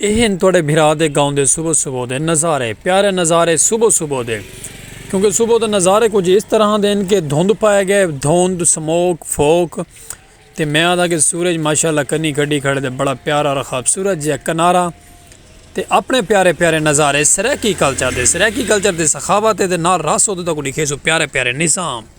اے ہن تہاڈے بھرا دے گاؤں دے صبح صبح دے نظارے پیارے نظارے صبح صبح دے کیونکہ صبح دے نظارے کچھ اس طرح دے ہن کہ دھند پائے گئے دھند سموک فوک تے میں آدھا کہ سورج ماشاءاللہ کنی کڈی کھڑے دے بڑا پیارا رخاب سورج جیا کنارہ تے اپنے پیارے پیارے نظارے سرائیکی کلچر دے سرائیکی کلچر دے سخاوت دے نال رس ادھے تک ڈکھے سو پیارے پیارے نظام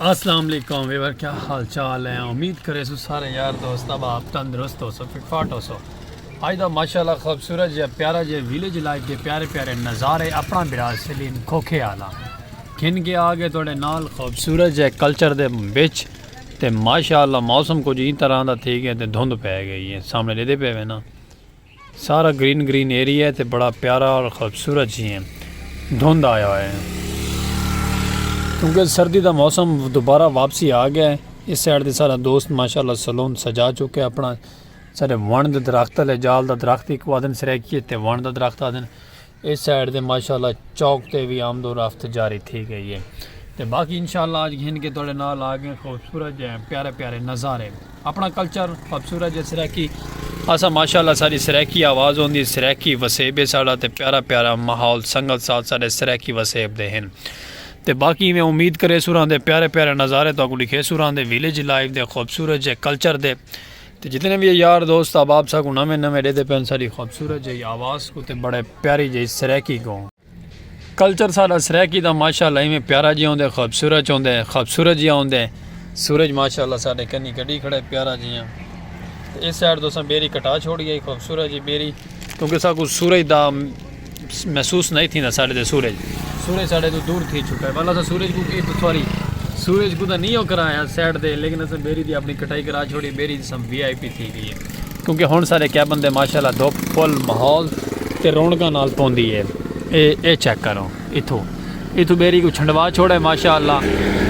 السلام علیکم ویور کیا حال چال ہے امید کرے سو سارے یار دوست اب آپ تندرست ہو سو فٹ فاٹ ہو سو آج دا ماشاءاللہ خوبصورت جے پیارا جے ویلیج لائف دے پیارے پیارے نظارے اپنا برا سلیم کھوکھے آلا کھن کے آگے توڑے نال خوبصورت جے کلچر دے بچ تے ماشاءاللہ موسم کو جی طرح دا تھی گئے تے دھند پہ گئی ہے سامنے لے دے پہ وینا سارا گرین گرین ایریا ہے تے بڑا پیارا اور خوبصورت جی ہیں دھند آیا ہوئے ہیں کیونکہ سردی دا موسم دوبارہ واپسی آ گیا ہے اس سائڈ دے سارا دوست ماشاءاللہ سلون سجا چکے اپنا سارے ون دے درخت لے جال دا درخت ایک وادن سرے کیے تے ون دا درخت آدن اس سائیڈ دے ماشاءاللہ چوک تے بھی آمد و رفت جاری تھی گئی ہے تے باقی انشاءاللہ آج گھن کے توڑے نال آگے خوبصورت جائیں پیارے پیارے نظارے اپنا کلچر خوبصورت جائے سریکی اسا ماشاءاللہ ساری سریکی آواز ہوں دی سریکی وسیب ہے ساڑا تے پیارا پیارا محول سنگت ساتھ سارے سریکی وسیب دے ہیں تے باقی میں امید کرے سوران دے پیارے پیارے نظارے تو اگو لکھے سوران دے ویلیج لائف دے خوبصورت جائے کلچر دے تے جتنے وی یار دوست احباب ساکوں نویں نویں ڈیدے پن ساڈی خوبصورت جئی آواز کوں تے بڑے پیاری جئی سرائیکی کوں۔ کلچر ساڈا سرائیکی دا ماشاءاللہ ایویں پیارا جیاں ہوندے خوبصورت ہوندے خوبصورت جیاں ہوندے سورج ماشاءاللہ ساڈے کنی کڈی کھڑے پیارا جیاں تے اس سائیڈ تساں بیری کٹا چھوڑی ہئی خوبصورت جی بیری کیونکہ ساکوں سورج دا محسوس نئیں تھیندا ساڈے تے سورج سورج ساڈے توں دور تھی چکا ہے ول اساں سورج کوں کیت سوری سورج کوں تاں نی او کرا یا سیڈ دے لیکن اساں بیری دی اپنی کٹائی کرا چھوڑی بیری جسم وی آئی پی تھی گئی ہے کیونکہ ہن ساڈے کیبن تے ماشاءاللہ دھوپ فل ماحول تے رونقاں نال پوندی ہے اے اے چیک کرو اتھو اتھو بیری کوں چھنڈوا چھوڑے ماشاءاللہ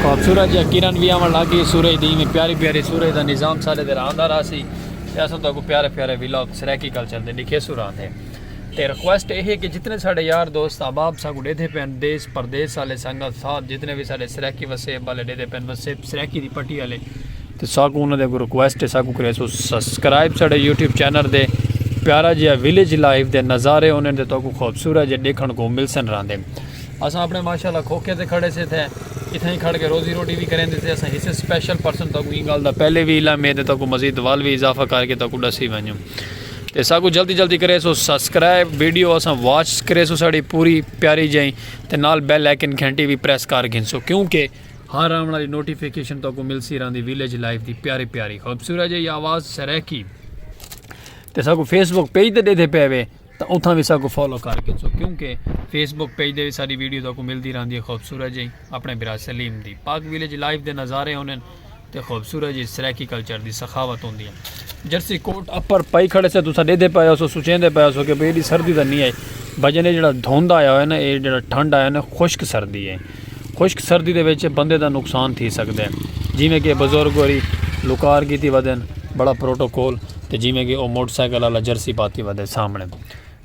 خوبصورت جیا کرن وی آون لگ گئی سورج دی ایویں پیاری پیاری سورج دا نظام ساڈے تے راندا راہسی تے اساں تہاکوں پیارے پیارے ولاگ سرائیکی کلچر دے ڈکھیسوں راہندے تے ریکویسٹ اے ہے کہ جتنے ساڈے یار دوست احباب ساکوں ڈیدھے پے ہن دیس پردیس آلے سنگت ساتھ جتنے وی ساڈے سرائیکی وسیب آلے ڈیدھے پے ہن وسیب سرائیکی دی پٹی آلے تے ساکوں انہاں دے اگوں ریکویسٹ ہے ساکوں کریسو سبسکرائب ساڈے یوٹیوب چینل دے پیارا جیا ویلیج لائف دے نظارے انہیں دے تو کو خوبصورت جے دیکھن کو مل سن راندے اساں اپنے ماشاءاللہ کھوکھے تے کھڑے سے تھے اتھاں ہی کھڑ کے روزی روٹی بھی کریں دے سے اساں ہسے سپیشل پرسن تو کو گل دا پہلے بھی علم ہے تے تو کو مزید وال بھی اضافہ کر کے تو کو ڈسی ونجوں تے ساکو جلدی جلدی کرے سو سبسکرائب ویڈیو اساں واچ کرے سو ساڑی پوری پیاری جائیں تے نال بیل آئیکن گھنٹی بھی پریس کر گھن سو کیونکہ ہر آن والی نوٹیفیکیشن تو کو مل سی راندی ویلیج لائف دی پیاری پیاری خوبصورت جی آواز سریکی تے ساکو فیس بک پیج تے دے دے پے وے تاں اتھاں وی ساکوں فالو کر گھنسو کیونکہ فیس بک پیج دے وچ ساڈی ویڈیو تہاکوں ملدی رہندی ہے خوبصورت جئی اپنے بھرا سلیم دی پاک ویلیج لائف دے نظارے ہوندن تے خوبصورت جئی سرائیکی کلچر دی سخاوت ہوندی ہے جرسی کوٹ اپر پائی کھڑے سے تساں ڈیدھے پئے ہوسو سوچیندے پئے ہوسو کہ بھئی ایڈی سردی تاں نہیں آئی بھجن اے جڑا دھند آیا ہوئے نا اے جڑا ٹھنڈ آیا نا خشک سردی ہے خشک سردی دے وچ بندے دا نقصان تھی سگدے جیویں کہ بزرگ ہوری لوکار کیتی ودن بڑا پروٹوکول تے جیویں کہ او موٹر سائیکل آلا جرسی پاتی ودے سامنے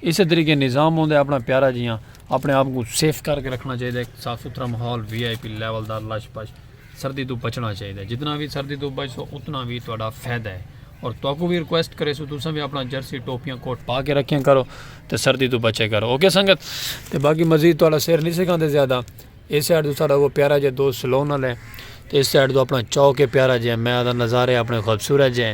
اسے طریقے نظام ہوندے اپنا پیارا جیاں اپنے آپ کوں سیف کر کے رکھنا چاہیدے صاف ستھرا ماحول وی آئی پی لیول دا لش پش سردی توں بچنا چاہیدا ہے جتنا وی سردی توں بچسو اتنا وی تہاڈا فائدہ ہے اور تہاکوں وی ریکویسٹ کریسوں تساں وی اپنا جرسی ٹوپیاں کوٹ پا کے رکھیاں کرو تے سردی توں بچے کرو اوکے سنگت تے باقی مزید تہاڈا سر نہیں سکھاندے زیادہ اس سائیڈ تو ساڈا وہ پیارا جے دوست سلون والے تے اس سائیڈ تو اپنا چوک ہے پیارا جے میں آدھا نظارے اپنے خوبصورت جے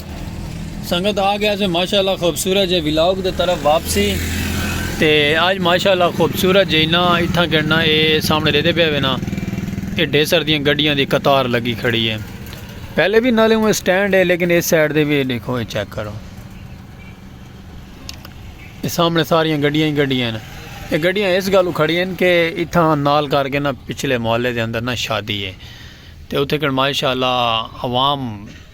سنگت آ گیا سے ماشاءاللہ خوبصورت جے ولاگ دے طرف واپسی تے آج ماشاءاللہ خوبصورت جے نا اتھا کرنا اے سامنے دیدے پہ وینا اے ڈیسر دیاں گڑیاں دی قطار لگی کھڑی ہے پہلے بھی نالے ہوں سٹینڈ ہے لیکن اس سائڈ دے بھی دیکھو اے چیک کرو اے سامنے ساریاں گڑیاں ہی گڑیاں ہیں اے گڑیاں اس گالو کھڑی ہیں کہ اتھا نال کر کے نا پچھلے محلے دے اندر نا شادی ہے تے اتھے کر ماشاءاللہ عوام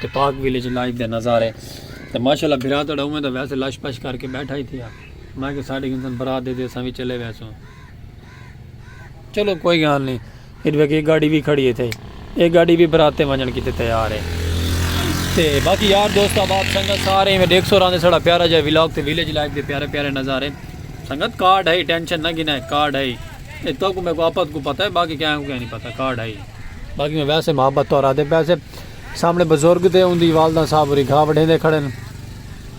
تے پاک ویلیج لائف دے نظارے تے ماشاءاللہ بھرا تہاڈا اوویں دا ویسے لش پش کر کے بیٹھا ہی تھیا میں کہ ساڈے گھنسن برات دے تے اساں وی چلے ویسوں چلو کوئی گال نہیں پھر ویکھ ایک گاڑی وی کھڑی ہے تھے ایک گاڑی وی برات تے ونجن کیتے تیار ہے تے باقی یار دوست احباب سنگت سارے ایویں دیکھ سو راندے ساڈا پیارا جا ولاگ تے ویلیج لائف دے پیارے پیارے نظارے سنگت کارڈ ہے ٹینشن نہ گھنا ہے کارڈ ہے اے تو کو میں کو آپت کو پتہ ہے باقی کیا کو کیا نہیں پتہ کارڈ ہے باقی میں ویسے محبت تو راتے پیسے سامنے بزرگ تے اوندی والدہ صاحب ہوری گھا وڈھیندے کھڑن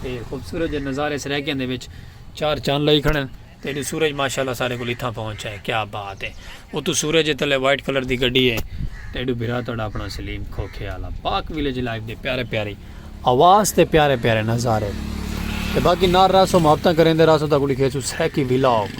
تے خوبصورت جے نظارے سرائیکیاں دے وچ چار چن لائی کھڑن تے اتوں سورج ماشاءاللہ سارے کول اتھاں پہنچ ہے کیا بات ہے اتوں سورج تلے وائٹ کلر دی گڈی ہے تے ایڈو بھرا تہاڈا اپنا سلیم کھوکھے والا پاک ویلیج لائف دے پیارے پیاری آواز تے پیارے پیارے نظارے تے باقی نار راسو محبتاں کریندے راسو تا کلی کھیسو سرائیکی ویلاگ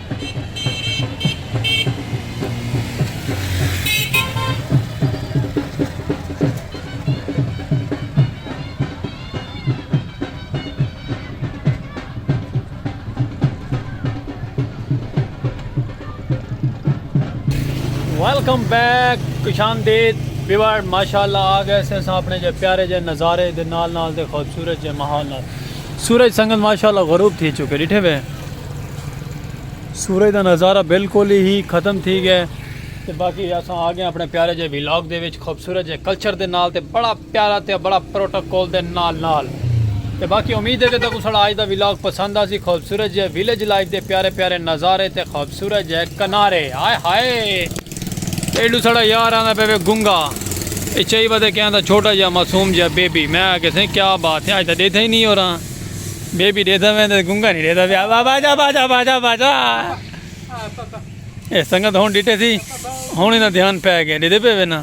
ویلکم بیک کشان دید بیوار ماشاءاللہ آگئے سے ساں اپنے جے پیارے جے نظارے دے نال نال دے خوبصورت جے ماحول نال سورج سنگت ماشاءاللہ غروب تھی چکے ڈٹھے وے سورج دا نظارہ بالکل ہی ختم تھی گئے تے باقی اساں آ گئے اپنے پیارے جے ویلاگ دے وچ خوبصورت جے کلچر دے نال تے بڑا پیارا تے بڑا پروٹوکول دے نال نال تے باقی امید ہے کہ تکوں ساڑا آج دا ویلاگ پسند آسی خوبصورت جے ویلج لائف دے پیارے پیارے نظارے تے خوبصورت جے کنارے ہائے ہائے ایڈو ساڑا یار آندا پہ وے گنگا اے چائی ودے کیا آندا چھوٹا جا معصوم جا بیبی میں آکھیا سائیں کیا بات ہے آج تاں ڈیدھا ہی نہیں ہو رہا بیبی ڈیدھا ویندے تے گنگا نہیں ڈیدھا پیا بابا جا باجا باجا باجا اے سنگت ہن ڈٹے تھی ہن انہاں دھیان پے گیا ڈیدھے پے وینا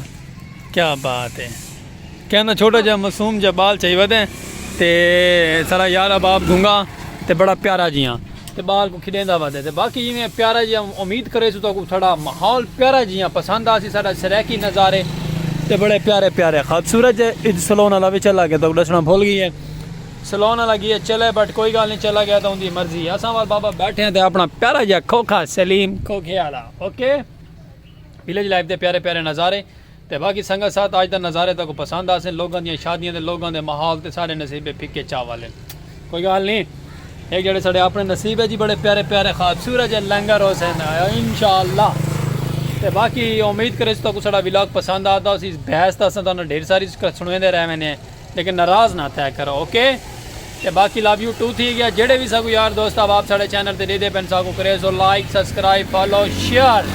کیا بات ہے کہندا چھوٹا جا معصوم جا بال چاہی ودے تے سارا یار احباب گونگا تے بڑا پیارا جیاں تے بال کو کھڈیندا ودے تے باقی جیویں پیارا جیاں امید کریسوں تو کو ساڈا ماحول پیارا جیاں پسند آسی ساڈا سرائیکی نظارے تے بڑے پیارے پیارے خوبصورت جے اج سلون والا وی چلا گیا تو ڈسنا بھول گئیے سلون والا گیا چلے بٹ کوئی گال نہیں چلا گیا تو اوندی مرضی اساں وال بابا بیٹھے ہیں تے اپنا پیارا جا کھوکھا سلیم کھوکھے والا اوکے ویلیج لائف دے پیارے پیارے نظارے تے باقی سنگت ساتھ آج دا نظارے تاکوں پسند آسن لوگاں دیاں شادیاں تے لوگاں دے ماحول تے سارے نصیبے پھکے چاول ہن کوئی گال نی ہک جیڑے ساڈے اپنے نصیب اچ ہی بڑے پیارے پیارے خواب سورج ہے لنگر ہوسن انشاءاللہ تے باقی امید کریس تاکوں ساڈا ولاگ پسند آتا ہوسی اس بحث دا اساں تانوں ڈھیر ساری سنویندے رہ وینے ہیں لیکن ناراض نہ تھیا کرو اوکے تے باقی لو یو ٹو تھی گیا جیڑھے وی ساکوں یار دوست احباب ساڈے چینل تے ڈیدھے پن ساکوں کریز ہو لائک سبسکرائب فالو شیئر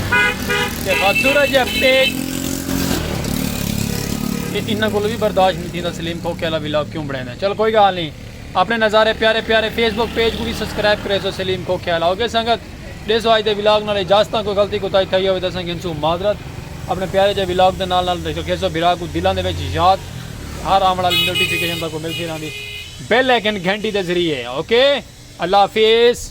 تے خوبصورت جے پیج تے انہاں کولو وی برداشت نہیں تھیندا سلیم کھوکھے والا ولاگ کیوں بنیندے چلو کوئی گال نہیں اپنے نظارے پیارے پیارے فیس بک پیج کو وی سبسکرائب کریز ہو سلیم کھوکھے والا اوکے سنگت ڈیسو اج دے ولاگ نال اجازتاں کوئی غلطی کوتاہی تھئی ہووے تاں اساں گھنسوں معذرت اپنے پیارے جے ولاگ دے نال نال رکھیسو بھرا کوں دلاں دے وچ یاد ہر آون والی نوٹیفیکیشن تہاکوں ملتی رہندی بیل آئیکن گھنٹی دے ذریعے اوکے اللہ حافظ۔